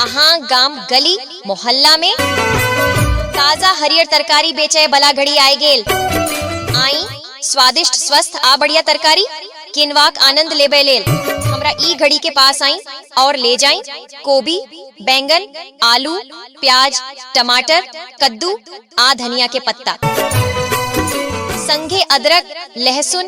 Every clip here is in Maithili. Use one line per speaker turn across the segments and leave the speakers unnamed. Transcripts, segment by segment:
अहाँ गाम गली मोहल्ला में ताजा हरियर तरकारी बेचे बला घड़ी आए गेल आई स्वादिष्ट स्वस्थ आ बढ़िया तरकारी किनवाक आनंद लेबे लेल हमरा ई घड़ी के पास आई और ले जाई कोबी बैंगन आलू प्याज टमाटर कद्दू आ धनिया के पत्ता संगे अदरक लहसुन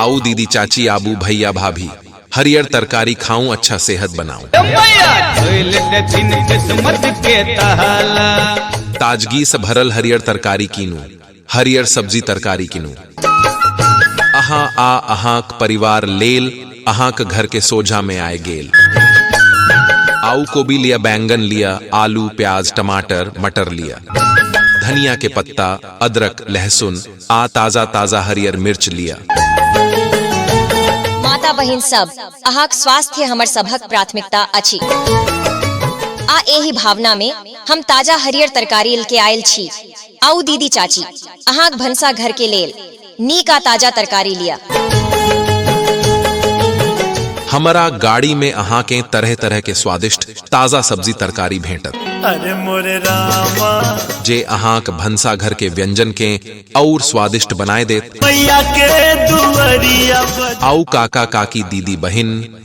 आओ दीदी चाची आबू भैया भाभी हरियर तरकारी खाऊं अच्छा सेहत बनाऊं ताजगी से भरल हरियर तरकारी कीनू हरियर सब्जी तरकारी कीनू अहा आ अहा परिवार लेल अहा के घर के सोझा में आए गेल आऊ को भी लिया बैंगन लिया आलू प्याज टमाटर मटर लिया धनिया के पत्ता अदरक लहसुन आ ताजा ताजा हरियर मिर्च लिअ माता बहिन सब अहाँक स्वास्थ्य हमर सभक प्राथमिकता अछि आ एहि भावना में हम ताजा हरियर तरकारी ल के आयल छी आउ दीदी चाची अहाँक भनसा घर के लेल नीक आ ताजा तरकारी लिया हमरा गाड़ी में अहाँ के तरह तरह के स्वादिष्ट ताजा सब्जी तरकारी भेंटत अरे मोरे रामा जे अहाँक भनसा घर के व्यंजन के और स्वादिष्ट बनाए देत मैया के दुआरिया पर आउ काका काकी दीदी बहिन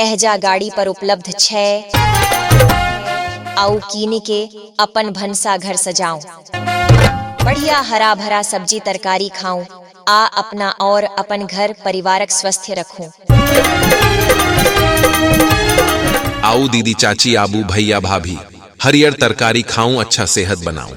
एहजा गाड़ी पर उपलब्ध छै आउ कीनि के अपन भनसाघर सजाऊं। बढ़िया हरा-भरा सब्जी-तरकारी खाऊं आ अपना और अपन घर परिवारक स्वस्थ्य रखूं। आऊ दीदी-चाची आबू भैया-भाभी हरियर तरकारी खाऊं अच्छा सेहत बनाऊं।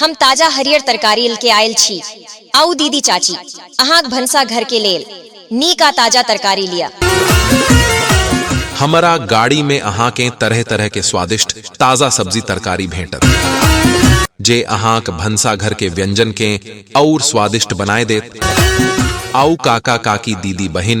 हम ताजा हरियर तरकारी ल के आयल छी। आउ दीदी, चाची, अहाँक भनसा घर के लेल नीक आ ताजा तरकारी लिअ। हमरा गाड़ी मे अहाँकें तरह-तरह के स्वादिष्ट ताजा सब्जी-तरकारी भेंटत, जे अहाँक भनसा घर के व्यंजन कें अउर स्वादिष्ट बनाय देत। आउ काका-काकी, दीदी-बहिन।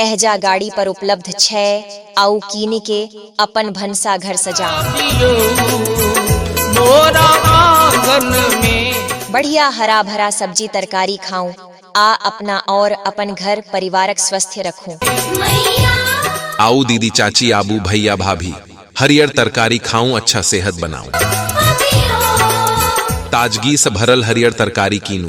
एहजा गाड़ी पर उपलब्ध छै आउ कीनि के अपन भनसाघर सजाउ दियो मोरा आंगन में बढ़िया हरा भरा सब्जी तरकारी खाऊ आ अपना और अपन घर परिवारक स्वस्थ्य रखू आओ दीदी चाची आबू भैया भाभी हरियर तरकारी खाऊं अच्छा सेहत बनाऊं ताजगी से भरल हरियर तरकारी कीनू